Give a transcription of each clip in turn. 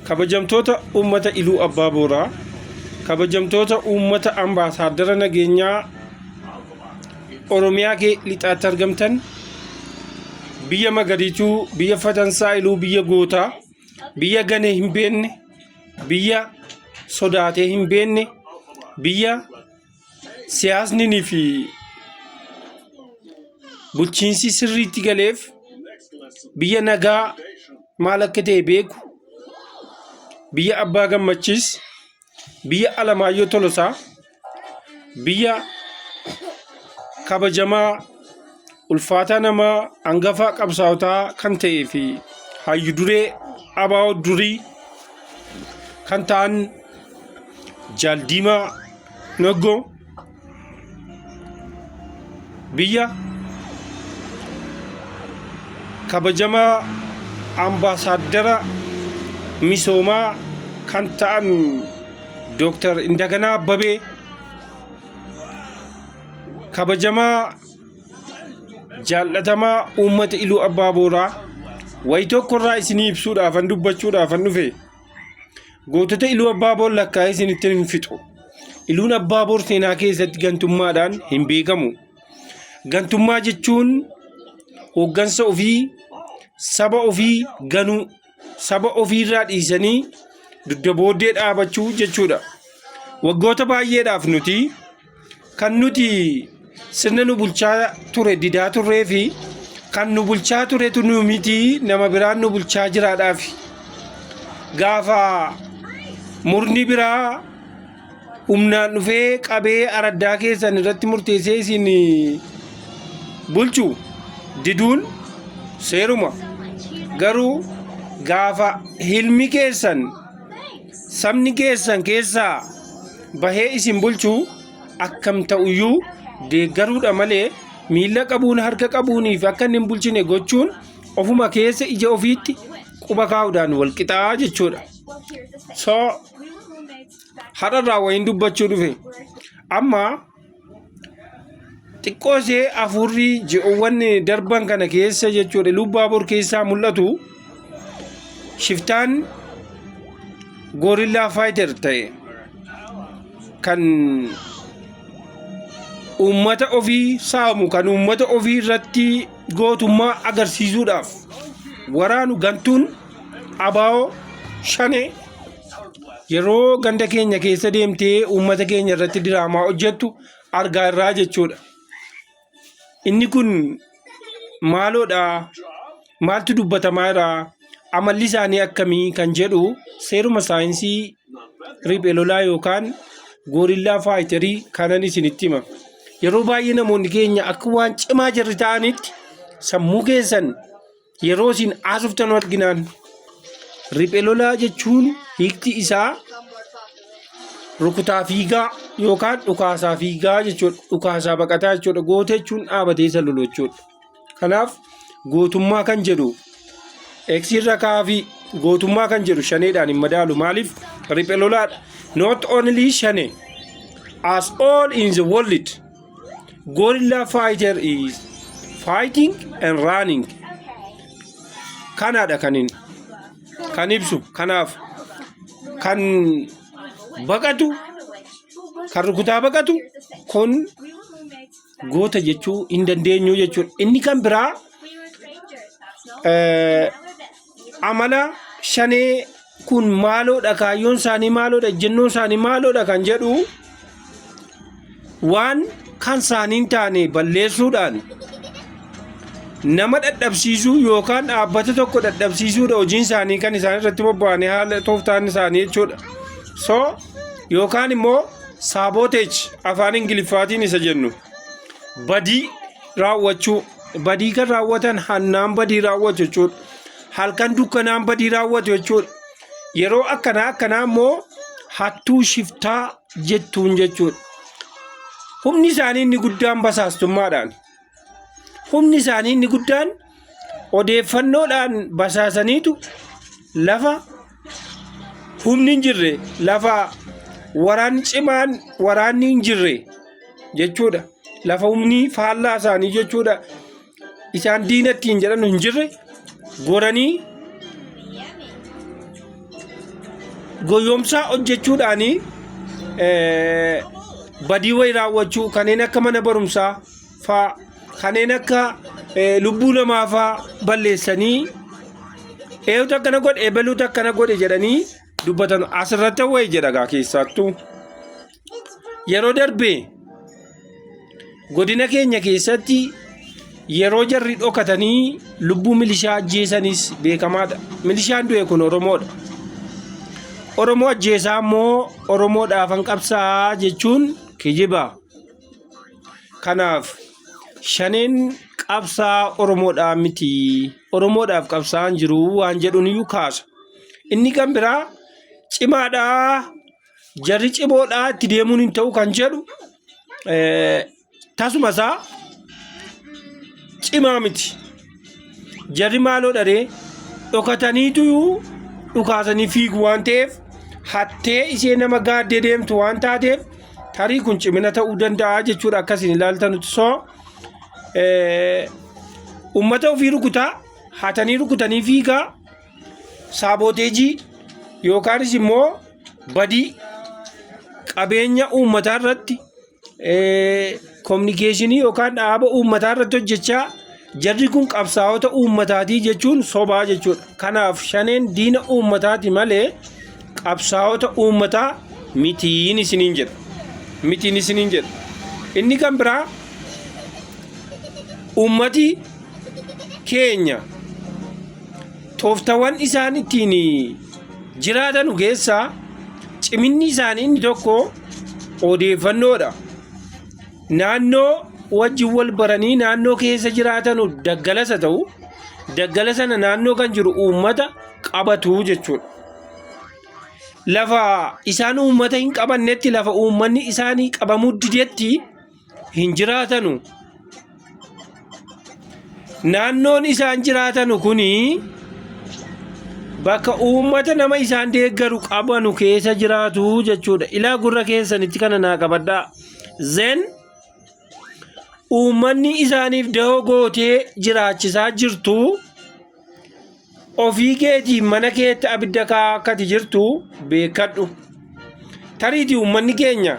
Kabajamtoota Uummata Iluu Abbaa Booraa, Kabajamtoota Uummata Ambaasaaddara Nageenyaa Oromiyaa Lixaatti argamtan, biyya magariituu, biyya fatansaa iluu, biyya gootaa, biyya ganee hin beekne, biyya sodaatee hin beekne, biyya siyaasni fi bulchiinsi sirriitti galeef biyya nagaa maal akka ta'e beeku, biyya Abbaa Gammachiis, biyya Alamaayyoo Tolosaa, biyya kabajamaa Ulfaataa nama angafaa qabsaawotaa kan ta'ee fi hayyu duree abaa'oo durii kan ta'an Jaal Diimaa Naggoo biyya kabajamaa ambaasaaddara misoomaa kan ta'an Dooktar Indaganaa Abbabee kabajamaa jaallatamaa uummata iluu abbaa booraa wayi tokkorraa isinii ibsuudhaafan dubbachuudhaafan dhufe gootota iluu abbaa boor lakkaa'ee isinitti hin fixu iluun abbaa boor seenaa keessatti gantummaadhaan hin beekamu gantummaa jechuun hooggansa ofii saba ofii ganuu saba ofiirraa dhiisanii dugda booddee dhaabachuu jechuudha. Waggoota baay'eedhaaf nuti kan nuti sirna nu bulchaa ture didaa turree fi kan nu bulchaa turetu nu miti nama biraan nu bulchaa jiraadhaaf gaafa murni biraa humnaan dhufee qabee araddaa keessan irratti murteessee isin bulchu diduun seeruma garuu gaafa hilmi keessan sabni keessan keessaa bahee isin bulchu akkam ta'uyyuu deeggaruudha malee miila qabuun harka qabuunii fi akka inni hin bulchine gochuun ofuma keessa ija ofiitti quba kaa'uudhaan wal qixaa jechuudha. So hadharraa wayiin dubbachuu dhufe amma xiqqoo ishee afuurri ji'oowwan darban kana keessa jechuudha lubbaa bor keessaa mul'atu shiftaan goorillaa faayiter ta'e kan uummata ofii saamu kan uummata ofii irratti gootummaa agarsiisuudhaaf waraanu gantuun abaa'oo shanee yeroo ganda keenya keessa deemtee uummata keenya irratti diraamaa hojjettu argaa irraa jechuudha. Inni kun maaloodha maaltu dubbatamaa jira amalli isaanii akkamii kan jedhu seeruma saayinsii riphee lolaa yookaan goorillaa faayitarii kanan isinitti hima. Yeroo baay'ee namoonni keenya akka waan cimaa jirri ta'anitti sammuu keessan yeroo isin haasoftan arginaan riphe lolaa jechuun hiikti isaa rukutaa fiigaa yookaan dhukaasaa fiigaa jechuudha dhukaasaa baqataa jechuudha goota jechuun dhaabatee isa lolu jechuudha kanaaf gootummaa kan jedhu eksiirra kaafi gootummaa kan jedhu shaneedhaan hin madaalu maaliif riphe lolaadha not only shane as all in the world Gorilla fighter is fighting and running. Kanaadha kan inni kan ibsu kanaaf kan baqatu kan rukutaa baqatu kun goota jechuu hin dandeenyu jechuudha. Inni kan biraa eh, amala shanee kun maaloodha kaayyoon isaanii maaloodha ejjennoo isaanii maaloodha kan jedhu waan kan isaanii taane balleessuudhaan nama dhadhabsiisuu yookaan dhaabbata tokko dhadhabsiisuudha hojiin isaanii kan isaan irratti bobba'anii haala tooftaan isaanii jechuudha. So yookaan immoo saabooteechi afaan ingiliffaatiin isa jennu badii raawwachuu badii kan raawwatan hannaan badii raawwatu jechuudha. Halkan dukkanaan badii raawwatu jechuudha. Yeroo akkanaa akkanaa immoo hattuu shiftaa jettuun jechuudha. Humni isaanii inni guddaan basaastummaadhaan. Humni isaanii inni guddaan odeeffannoodhaan basaasaniitu lafa humni hin jirre lafa waraanni cimaan waraanni hin jirre jechuudha. Lafa humni faallaa isaanii jechuudha. Isaan diina ittiin jedhan hin jirre goranii goyoomsaa hojjechuudhaanii eh, badii wayii raawwachuu kanneen akka mana barumsaa faa kanneen akka eh, lubbuu namaa faa balleessanii eeyutu akkana godhe eebaluutu akkana godhe jedhanii dubbatan asirratti wayi jedha gaa keessaattuu yeroo darbe godina keenya keessatti yeroo jarri dhokatanii lubbuu milishaa ajjeesanis beekamaadha milishaan du'e kun oromoodha oromoo ajjeesaa immoo oromoodhaafan qabsaa jechuun kijiba Kanaaf shaneen qabsaa Oromoodhaa miti Oromoodhaaf qabsaan jiru waan jedhuun iyyuu kaasa. Inni kan biraa cimaadhaa jarri cimoodhaa itti deemuun hin ta'u kan jedhu tasuma isaa cimaa miti. Jarri maaloo dharee dhokataniituyuu dhukaasanii fiigu waan ta'eef hattee ishee nama gaaddee deemtu waan taateef tarii kun cimina ta'uu danda'a jechuudha akkasiin ilaaltanutti soo ummata ofii rukutaa hatanii rukutanii fiigaa saabooteejii yookaanis immoo badii qabeenya uummataa irratti kominikeeshinii yookaan dhaaba uummataa irratti hojjechaa jarri kun qabsaa'ota uummataatii jechuun sobaa jechuudha. Kanaaf shaneen diina uummataati malee qabsaa'ota uummataa mitiin isiniin jedha. Mitiin isiniin jedha. Inni kan biraa uummati keenya tooftawwan isaan ittiin jiraatanu keessaa ciminni isaanii inni tokko odeeffannoodha. Naannoo wajjin wal baranii naannoo keessa jiraatanu daggalasa ta'u daggala sana naannoo kan jiru uummata qabatu jechuudha. Lafa isaan uummata hin qabannetti lafa uummanni isaanii qabamuu didetti hin jiraatanu. Naannoon isaan jiraatanu kun bakka uummata nama isaan deeggaru qabanu keessa jiraatu jechuudha. Ilaa gurra keessanitti kana naa qabadhaa. Zen uummanni isaaniif dahoo gootee jiraachisaa jirtu. Ofii keetii mana keetti abidda kaa'aa akkati jirtu beekadhu. Tariitii uummanni keenya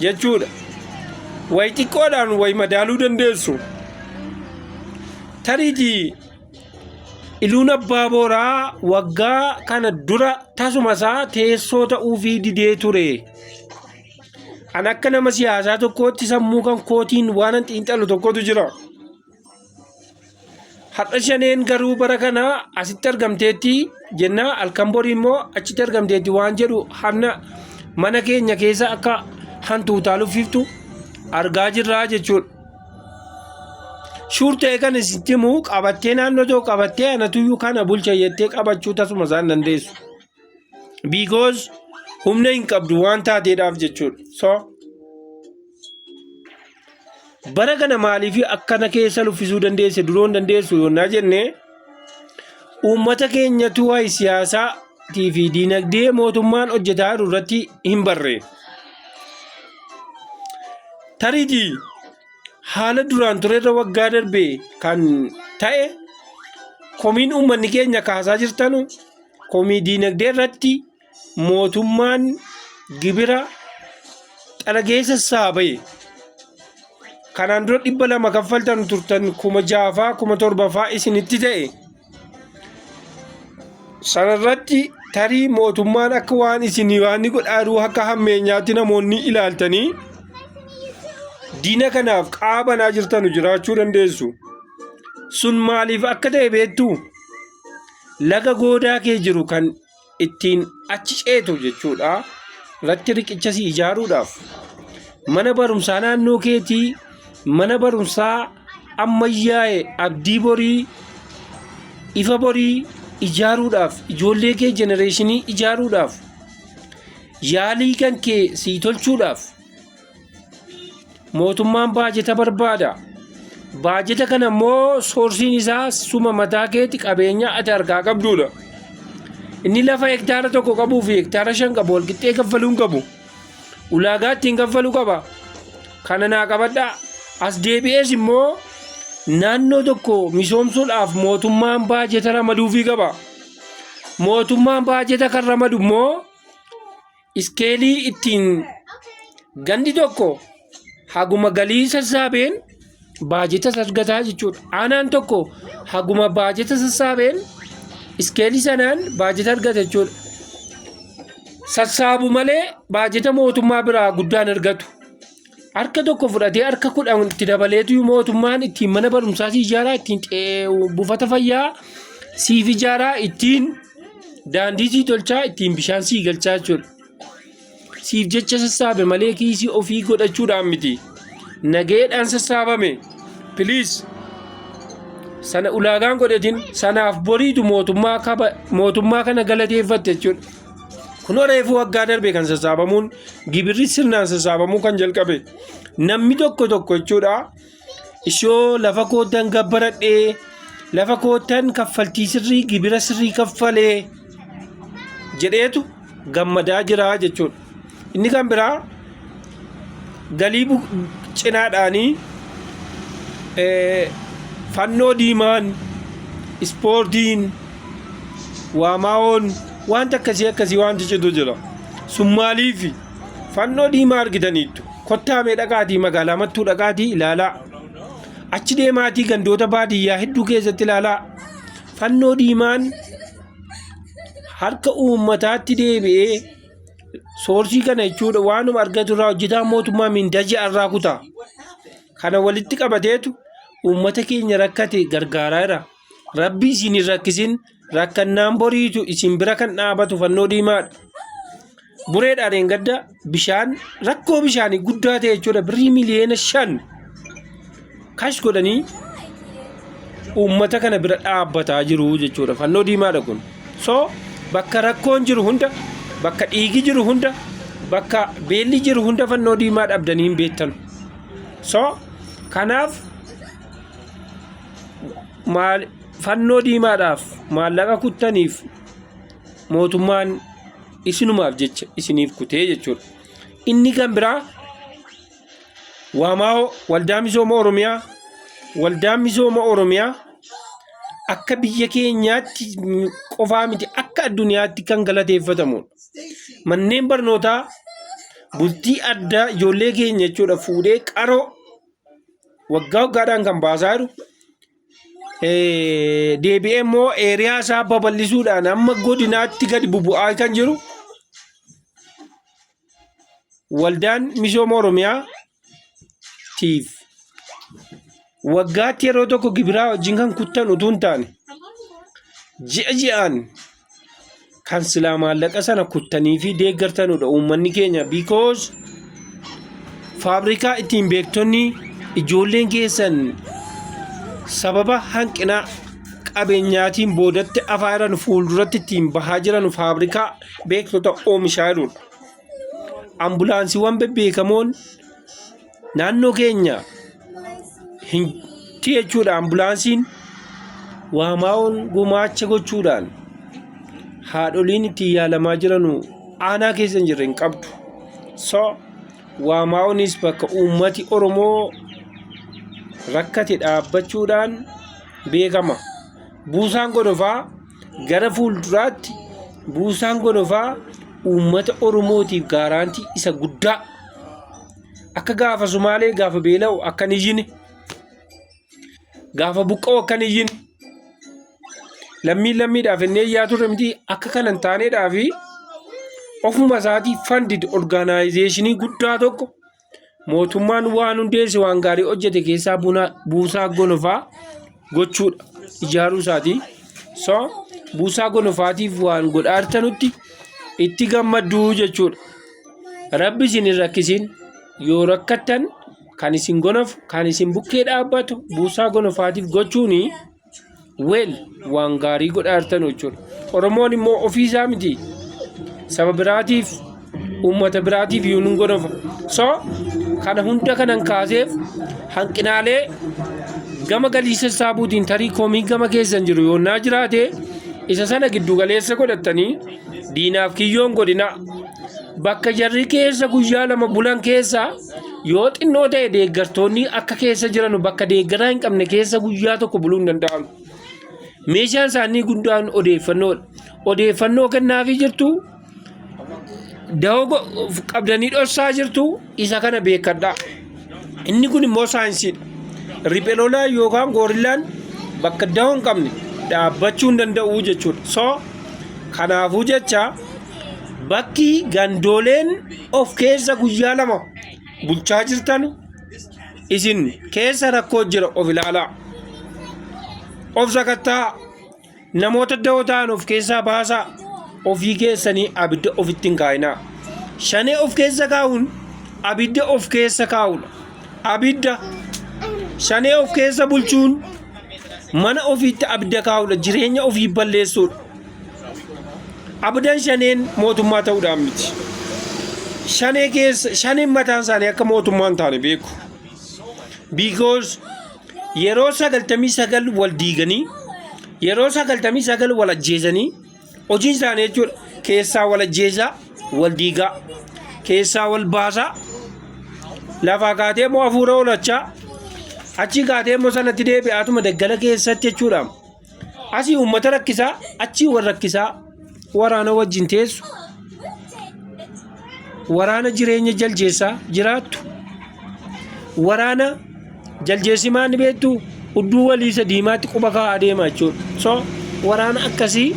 jechuudha. Wayi xiqqoodhaan wayi madaaluu dandeessu. Tariitii iluun abbaa booraa waggaa kana dura tasuma isaa teessoo ta'uufii didee ture. An akka nama siyaasaa tokkootti sammuu kan kootiin waanan xiinxalu tokkotu jira. Har'a shaneen garuu bara kana asitti argamteetti jenna halkan borii immoo achitti argamteetti waan jedhu hanna mana keenya keessa akka hantuutaa luffiftu argaa jirraa jechuudha. Shuur ta'e kan isitti himu qabattee naannoo tokko qabattee anatuyyuu kana bulcha jettee qabachuu tasuma isaan dandeessu. because humna hin qabdu waan taateedhaaf jechuudha so bara kana maaliif akkana keessa luffisuu dandeesse duroon dandeessu yoonnaa jenne uummata keenyatu waa'ee siyaasaa tii fi diinagdee mootummaan hojjetaa jiru irratti hin barre tariitii haala duraan ture irra waggaa darbe kan ta'e komiin uummanni keenya kaasaa jirtanu Komii diinagdee irratti mootummaan gibira xalageessa isaa bahe kanaan dura dhibba lama kaffaltan turtan kuma jaafaa kuma torbafaa isinitti ta'e sanarratti tarii mootummaan akka waan isin waan godhaaruu akka hammeenyaatti namoonni ilaaltanii diina kanaaf qaabanaa jirtanu jiraachuu dandeessu sun maaliif akka ta'e beektuu? laga goodaa kee jiru kan ittiin achi ceetu jechuudha irratti riqicha si ijaaruudhaaf mana barumsaa naannoo keetii mana barumsaa ammayyaa'e abdii borii ifa borii ijaaruudhaaf ijoollee kee jenereeshinii ijaaruudhaaf yaalii kan kee sii tolchuudhaaf mootummaan baajeta barbaada. Baajeta kana immoo soorsiin isaa suma mataa keeti qabeenya ati harkaa qabduudha. Inni lafa hektaara tokko qabuu fi hektaara shan qabu walqixxee kaffaluu hin qabu. Ulaagaa ittiin kaffalu qaba. Kana naa qabadhaa. As deebi'ees immoo naannoo tokko misoomsuudhaaf mootummaan baajeta ramaduufii qaba. Mootummaan baajeta kan ramadu immoo iskeelii ittiin gandi tokko haguma galii sassaabeen baajeta sasgataa jechuudha. Aanaan tokko haguma baajeta sassaabeen iskeelii sanaan baajeta argata jechuudha. Sassaabu malee baajeta mootummaa biraa guddaan argatu. harka tokko fudhatee harka kudhan itti dabaleetu mootummaan ittiin mana barumsaa si ijaaraa ittiin buufata fayyaa siif ijaaraa ittiin daandii sii tolchaa ittiin bishaan sii galchaa jechuudha. Siif jecha sassaabe malee kiisii ofii godhachuudhaan miti. Nageedhaan sassaabame. Piliis. Sana ulaagaan godhetiin sanaaf boriitu mootummaa kana galateeffatte jechuudha. Kunoo reefuu waggaa darbe kan sassaabamuun gibirri sirnaan sassaabamuu kan jalqabe namni tokko tokko jechuudha. Ishoo lafa koottan gabbaradhee lafa koottan kaffaltii sirrii gibira sirrii kaffalee jedheetu gammadaa jira jechuudha. Inni kan biraa galii cinaadhaanii fannoo diimaan ispoortiin waamaawoon wanta akkasii akkasii wanti citu jira sun maaliif fannoo diimaa argitaniittu kottaamee dhaqaatii magaalaa mattuu dhaqaatii ilaalaa achi deemaatii gandoota baadiyyaa hedduu keessatti ilaalaa fannoo diimaan harka uummataatti deebi'ee Soorsii kana jechuudha waanuma argatu irraa hojjetaan mootummaa mindaa ji'a irraa kutaa. Kana walitti qabateetu uummata keenya rakkate gargaaraa jira. Rabbi isin hin rakkisin rakkannaan boriitu isin bira kan dhaabatu fannoo diimaadha. Bureedhaan hin gadda bishaan rakkoo bishaanii guddaa ta'e jechuudha birrii miliyoona shan. kash godhanii uummata kana bira dhaabbataa jiru jechuudha fannoo diimaadha kun so bakka rakkoon jiru hunda bakka dhiigi jiru hunda bakka beelli jiru hunda fannoo diimaa dhabdanii hin beektan so kanaaf maal fannoo diimaadhaaf maallaqa kuttaniif mootummaan isinumaaf jecha isiniif kutee jechuudha inni kan biraa Waamaa'oo Waldaa Misooma Oromiyaa Waldaan Misooma Oromiyaa akka biyya keenyaatti qofaa miti akka addunyaatti kan galateeffatamudha. Manneen barnootaa bultii addaa ijoollee keenya jechuudha fuudhee qaroo waggaa waggaadhaan kan baasaa jiru. Eh, Deebi'ee immoo eeriyaa isaa babal'isuudhaan amma godinaatti gadi bubu'aa kan jiru. waldaan misooma oromiyaa tiif waggaatti yeroo tokko gibiraa wajjin kan kuttan utuu hin taane ji'a ji'aan kan silaa maallaqa sana kuttanii fi deeggartanudha uummanni keenya because faabrikaa ittiin beektonni ijoolleen keessan sababa hanqina qabeenyaatiin boodatti afaa jiran fuulduratti ittiin bahaa jiran faabrikaa beektota oomishaa jiruudha. Ambulaansiiwwan bebbeekamoon naannoo keenya hin jechuudha ambulaansiin waamaa'oon gumaacha gochuudhaan haadholiin ittiin yaalamaa jiranu aanaa keessa hin jirre hin qabdu. So waamaa'oonis bakka uummati Oromoo rakkate dhaabbachuudhaan beekama. Buusaan godofaa Gara fuulduraatti buusaan gonofaa uummata Oromootiif gaaraantii isa guddaa akka gaafa Sumaalee gaafa beela'u akka hin iyyine gaafa buqqa'u akka hin iyyine lammiin lammiidhaaf inni iyyaa turre miti akka kana hin taaneedhaa fi ofuma isaatii fandid orgaanaayizeeshinii guddaa tokko Mootummaan waan hundeesse waan gaarii hojjete keessaa buna buusaa gonofaa gochuudha ijaaruu isaati. So buusaa gonofaatiif waan godhaa jirtanutti itti gammadduu jechuudha. Rabbi isin hin rakkisin yoo rakkattan kan isin gonofu kan isin bukkee dhaabbatu buusaa gonofaatiif gochuuni. Weel waan gaarii godhaa jirtan jechuudha. Oromoon immoo ofii isaa miti saba biraatiif uummata biraatiif yoo nun godhofa. So kana hunda kanan kaaseef hanqinaalee gama galii sassaabuutiin tarii komii gama keessan jiru yoo naa jiraate isa sana giddu galeessa godhattanii diinaaf kiyyoon godhina bakka jarri keessa guyyaa lama bulan keessa Yoo xinnoo ta'e deeggartoonni akka keessa jiran bakka deeggaraa hin qabne keessa guyyaa tokko buluu hin danda'an. Meeshaan isaanii guddaan odeeffannoodha. Odeeffannoo kennaafii jirtu dahoo qabdanii dhossaa jirtu isa kana beekadha. Inni kun immoo saayinsiidha. Riphelolaa yookaan goorillaan bakka dahoo hin qabne dhaabbachuu hin danda'u jechuudha. So kanaafuu jecha bakki gandooleen of keessa guyyaa lama bulchaa jirtan isin keessa rakkoo jira of ilaalaa of sakattaa namoota da'oo ta'an of keessaa baasaa ofii keessanii abidda ofitti hin kaa'inaa shanee of keessa kaa'uun abidda of keessa kaa'uudha abidda shanee of keessa bulchuun mana ofiitti abidda kaa'uudha jireenya ofii balleessuudha Abdan shaneen mootummaa ta'uudhaan miti. Shanee keessa shaneen mataan isaanii akka mootummaa hin taane beeku. Because yeroo sagaltamii sagal wal diiganii yeroo sagaltamii sagal wal ajjeesanii hojiin isaanii jechuudha keessaa wal ajjeesaa wal diigaa keessaa wal baasaa lafaa kaatee immoo hafuura oolachaa achi kaatee immoo sanatti deebi'aatuma daggala keessatti jechuudha. Asii uummata rakkisaa, achii wal rakkisaa, waraana wajjin teessu, waraana jireenya jaljeessaa jiraattu, waraana jaljeessi maal ni beektu udduu walii isa diimaatti quba kaa'aa deema jechuudha. So waraana akkasii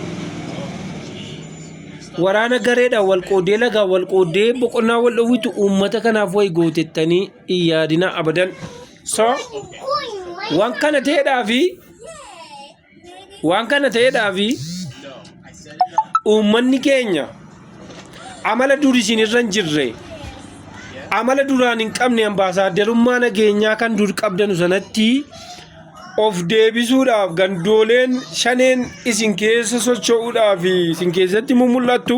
waraana gareedhaan wal qooddee lagaan wal qooddee boqonnaa wal dhowwitu uummata kanaaf wayi gootettanii hin yaadina abadan. so waan kana ta'eedhaa fi waan kana ta'eedhaa fi uummanni keenya amala dur isin irra hin jirre amala duraan hin qabne ambaasaaddarummaa nageenyaa kan dur qabdanu sanatti of deebisuudhaaf gandooleen shaneen isin keessa socho'uudhaaf isin keessatti mul'attu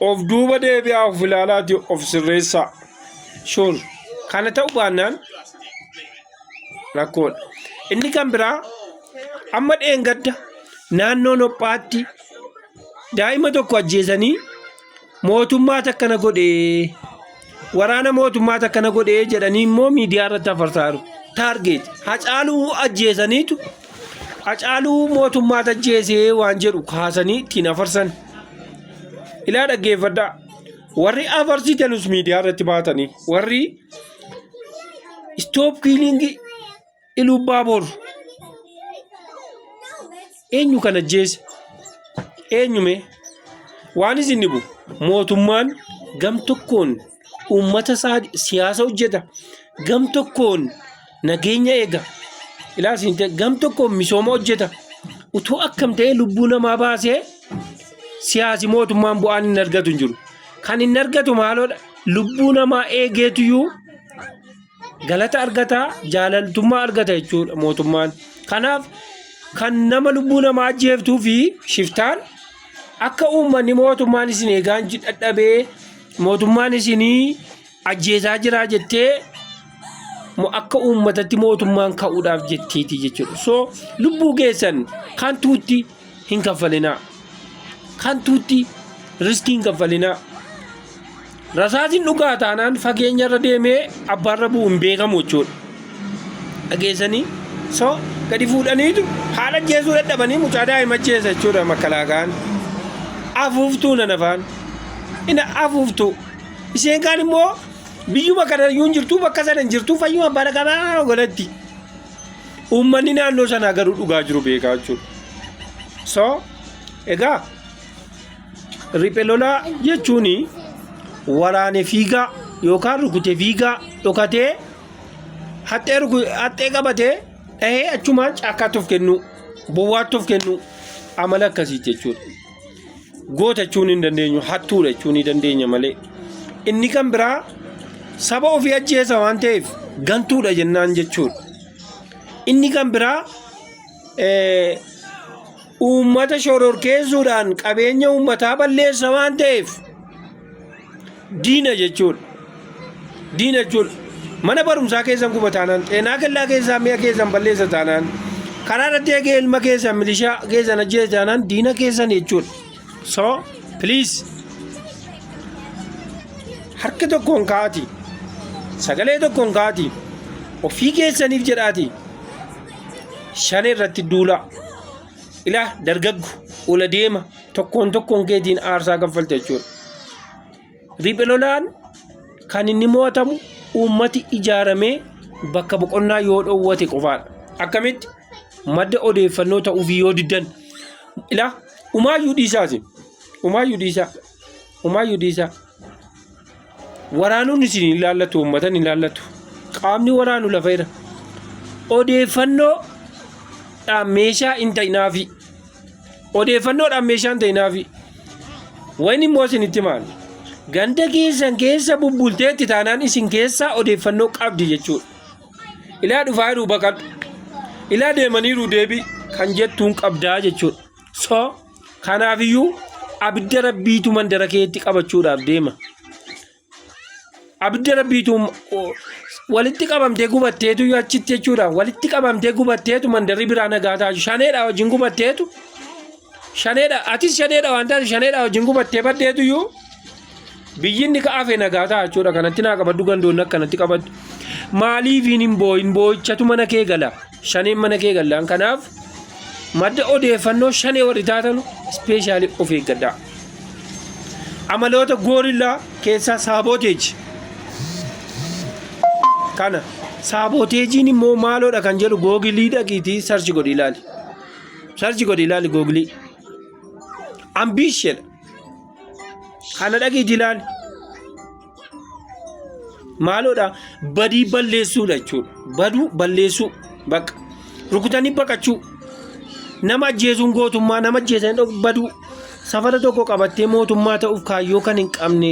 of duuba deebi'aa of ilaalaati of sirreessaa shuur kana ta'u baannaan rakkoodha inni kan biraa amma dheengadda naannoo nophaatti daa'ima tokko ajjeesanii mootummaa takkana godhee Waraana mootummaa takka na godhee jedhanii immoo miidiyaa irratti afarsaaru. Taargeet hacaaluu ajjeesaniitu hacaaluu mootummaa tajjeesee waan jedhu kaasanii ittiin afarsan. Ilaa dhaggeeffadhaa. Warri afarsitanus miidiyaa irratti baatanii warri istoop kiiliingii Iluubbaaboor eenyu kan ajjeese? Eenyume? Waan isin dhibu mootummaan gam tokkoon uummata isaa siyaasa hojjeta, gam tokkoon nageenya eega, ilaas hin ta'e, gam tokkoon misooma hojjeta. Utuu akkam ta'ee lubbuu namaa baasee siyaasi mootummaan bu'aan hin argatu hin jiru. Kan hin argatu maaloodha? Lubbuu namaa eegeetuyyuu galata argata jaalaltummaa argata jechuudha mootummaan kanaaf kan nama lubbuu namaa ajjeeftuu fi shiftaan akka uummanni mootummaan isin eegaan ji- dadhabee mootummaan isinii ajjeesaa jiraa jettee mo- akka uummatatti mootummaan ka'uudhaaf jetteeti jechuudha so lubbuu keessan kan tuutti hin kaffalinaa kantuutti riskii hin kaffalinaa rasaasin dhugaa taanaan fageenya irra deemee abbaarra bu'u hin beekamu jechuudha dhageessanii so gadi fuudhaniitu haala jeesuu dadhabanii mucaa daa'ima jeessa jechuudha makalaakaan afuuftuu nan afaan ina afuuftuu isheen kaan immoo biyyuma kana iyyuu hin jirtu bakka sana hin jirtu fayyuma bara qabaa ogalatti Uummanni naannoo sanaa garuu dhugaa jiru beekaa jechuudha. So, egaa riphee lolaa jechuun waraane fiigaa yookaan rukute fiigaa dhokatee haxxee ruku- haxxee qabatee dhahee achumaan caakkaatti of kennuu bowwaatti of kennuu amala akkasii jechuudha. goota jechuun hin dandeenyu hattuudha jechuun ni dandeenya malee inni kan biraa saba ofii ajjeesa waan ta'eef gantuudha jennaan jechuudha. Inni kan biraa eh, uummata shororkeessuudhaan qabeenya uummataa balleessa waan ta'eef diina jechuudha. Diina jechuudha. Mana barumsaa keessan guba taanaan, xeenaa kellaa keessaa mi'a keessan balleessa taanaan, karaa irratti eegee ilma keessan milishaa keessan ajjeese taanaan diina keessan jechuudha. So, please. Harka tokkoon kaati. Sagalee tokkoon kaati. Ofii keessaniif jedhaati. Shanee irratti duulaa. Ilaa dargaggu ula deema. tokkoon tokkoon keetiin aarsaa kaffalta jechuudha. Riphee lolaan kan inni mo'atamu uummati ijaaramee bakka boqonnaa yoo dhoowwate qofaadha. Akkamitti madda odeeffannoo ta'uufii yoo diddan ilaa umaayyuu dhiisaati. Umaayyuu dhiisaa. Umaayyuu dhiisaa. Waraanuun isin hin laallatu, uummatan hin laallatu. Qaamni waraanu lafa irra. Odeeffannoodhaan meeshaa hin ta'inaafi. Odeeffannoodhaan meeshaa hin ta'inaafi. Wayni immoo isin itti maal? Ganda keessan keessa bubbulteetti taanaan isin keessaa odeeffannoo qabdi jechuudha. Ilaa dhufaa jiru baqadhu. Ilaa deemaniiru deebii kan jettuun qabdaa jechuudha. so kanaafiyyuu abidda rabbiitu mandara keetti qabachuudhaaf deema abidda rabbiitu walitti qabamtee gubatteetu achitti jechuudha walitti qabamtee gubatteetu mandarri biraa nagaa taaju shaneedha wajjin gubatteetu shaneedha atis shaneedha waan taate shaneedha wajjin gubattee baddeetu iyyuu Biyyi inni ka'afe nagaa ta'a jechuudha. Kanatti naa qabaddu gandoonni akkanatti qabaddu. Maaliifiin hin boo'in boo'ichatu mana kee gala. Shaneen mana kee gallaan kanaaf madda odeeffannoo shanee warri taatanu ispeeshaalii of eeggadhaa. Amaloota goorillaa keessaa saabooteeji. Kana saabooteejiin immoo maaloodha kan jedhu googilii dhaqiitii sarchi godhi ilaali. Sarchi godhi ilaali googilii. Ambiisheedha. Kana dhagii jilaan maaloodha badii balleessuudha jechuudha. Baduu balleessuu bakka rukutanii baqachuu nama ajjeesuun gootummaa nama ajjeesan baduu safara tokko qabattee mootummaa ta'uuf kaayyoo kan hin qabne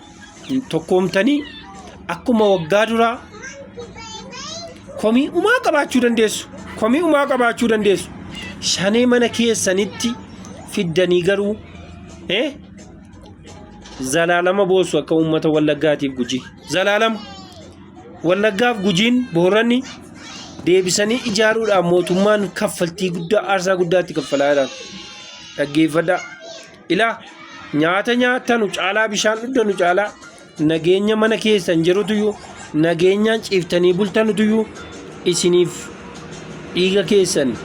tokkoomtanii akkuma waggaa duraa komii umaa qabaachuu dandeessu. Komii umaa qabaachuu dandeessu. Shanee mana keessanitti fiddanii garuu eh, zalaalama boossu akka uummata wallaggaatiif gujii. Zalaalama wallaggaaf gujiin booranni deebisanii ijaaruudhaan mootummaan kaffaltii guddaa aarsaa guddaatti kaffalaa jira. Dhaggeeffadhaa. Ilaa, nyaata nyaattanu caalaa bishaan dhuddanu caalaa nageenya mana keessan jirutuyyuu nageenyaan ciiftanii bultanutuyyuu isiniif dhiiga keessan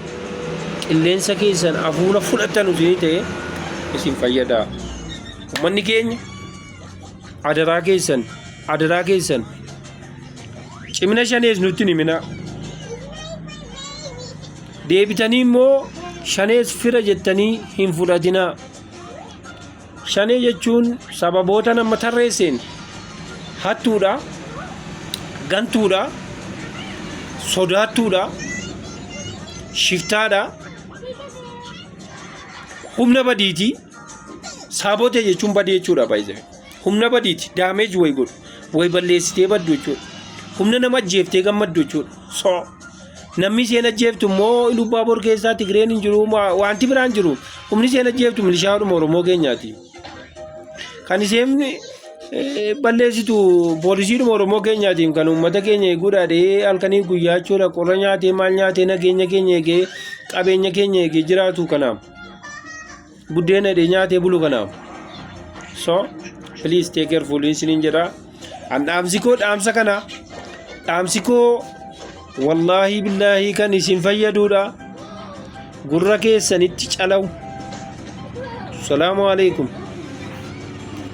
qilleensa keessan hafuura fudhattanu isinii ta'e isin fayyada. Uummanni keenya adaraa keessan adaraa keessan cimina shanees nutti hin himinaa. Deebitanii immoo shanees fira jettanii hin fudhatinaa. Shanee jechuun sababootan amma tarreesseen hattuudha, gantuudha, sodaattuudha, shiftaadha, humna badiiti. Saabotee jechuun badii jechuudha baay'ee. Humna badiiti daameeji wayi godhu wayi balleessitee baddu jechuudha. Humna nama ajjeeftee gammaddu jechuudha. So. Namni isheen ajjeeftu immoo Ilubbaaboor keessaa Tigireen hin jiru ma- wanti biraan jiru humni isheen ajjeeftu milishaadhuma Oromoo keenyaati. Kan isheen eh, balleessitu poolisiidhuma Oromoo keenyaatiin kan uummata keenya eeguudha dhee halkanii guyyaa jechuudha qorra nyaatee maal nyaatee nageenya keenya eegee qabeenya keenya eegee jiraatu kanaaf. Buddeena hidhee nyaatee bulu kanaaf. So please take careful isiniin jedha. An dhaamsi koo dhaamsa kana. Dhaamsi koo wallaahi billaahi kan isin fayyaduudha. Gurra keessanitti calawu. Salaamu alaikum.